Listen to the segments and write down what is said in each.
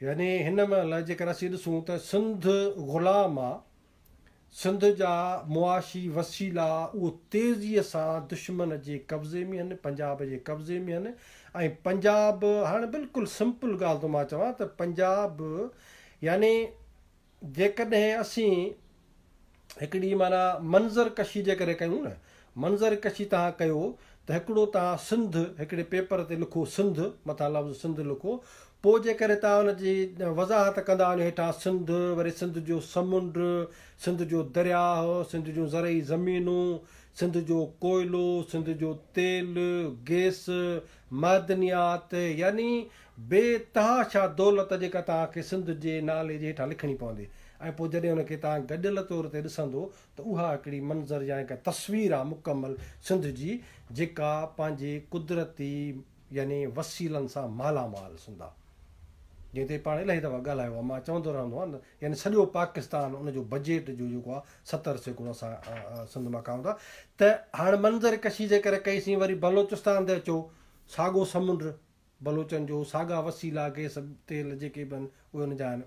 يعني هن مهل جيڪر اسين ڏسون ته سنڌ غلام آ، سنڌ جا معاشي وسيلا اهو تيزيء سان دشمن جي قبضي ۾ هن، پنجاب جي قبضي ۾ هن ۽ پنجاب هاڻ بلڪل سمپل ڳالهه ٿو مان چوان ته پنجاب يعني جيڪڏهن اسين هڪڙي معنيٰ منظر ڪشي جي ڪري ڪيون نه، منظر ڪشي تهان ڪيو ته هڪڙو تهان سنڌ هڪڙي پيپر تي لکو سنڌ مٿان لفظ سنڌ لکو پوء جي ڪڏهن تهان ان جي وضاحت ڪندا وڃو هيٺان سنڌ وري سنڌ جو سمنڊ سنڌ جو درياهه سنڌ جون زرعي زمينون سنڌ جو ڪوئلو سنڌ جو تيل گيس معدنيات يعني بي تحاشا دولت جيڪا توهان کي سنڌ جي نالي جي هيٺان لکڻي پوندي ۽ پوء جڏهن ان کي توهان گڏيل طور تي ڏسندو ته اها هڪڙي منظر يا هڪ تصوير آهي مڪمل سنڌ جي جيڪا پنهنجي قدرتي يعني وسيلن سان مالا مال سنڌ آهي جنهن تي پاڻ الاهي دفعا ڳالهايو آهي مان چوندو رهندو آهيان يعني سڄو پاڪستان ان جو بجيٽ جو جيڪو آهي ستر سيڪڙو اسان سنڌ مان کائون ٿا ته هاڻ منظر ڪشي جيڪر ڪئي سين وري بلوچستان تي اچو ساڳو سمنڊ بلوچن جو ساڳا وسيلا گئس تيل جيڪي به آهن اهي ان جا آهن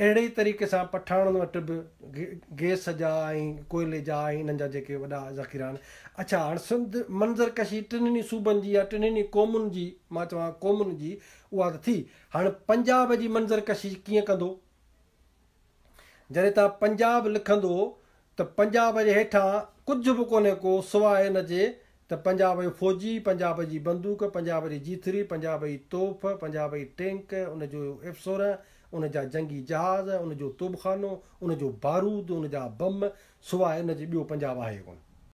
اهڙي ئي طريقي سان پٺاڻن وٽ به گئس جا ۽ ڪوئلي جا ۽ انهن جا جيڪي وڏا ذخيرا آهن اڇا هاڻ سنڌ منظر ڪشي ٽنهن ئي صوبن جي يا ٽنهن ئي قومن جي مان چوان قومن جي اها ته ٿي هاڻ پنجاب جي منظر ڪشي ڪيئن ڪندو جڏهن توهان پنجاب لکندو ته پنجاب جي هيٺان ڪجهه به ڪونهي ڪو سواء ان جي ته پنجاب جو فوجي، پنجاب جي بندوق، پنجاب جي جيٿري، پنجاب جي توف، پنجاب جي ٽينڪ، ان جو ايف سورهن، ان جا جنگي جهاز، ان جو توبخانو، ان جو بارود، ان جا بم، سواء ان جي ٻيو پنجاب آهي ڪونه.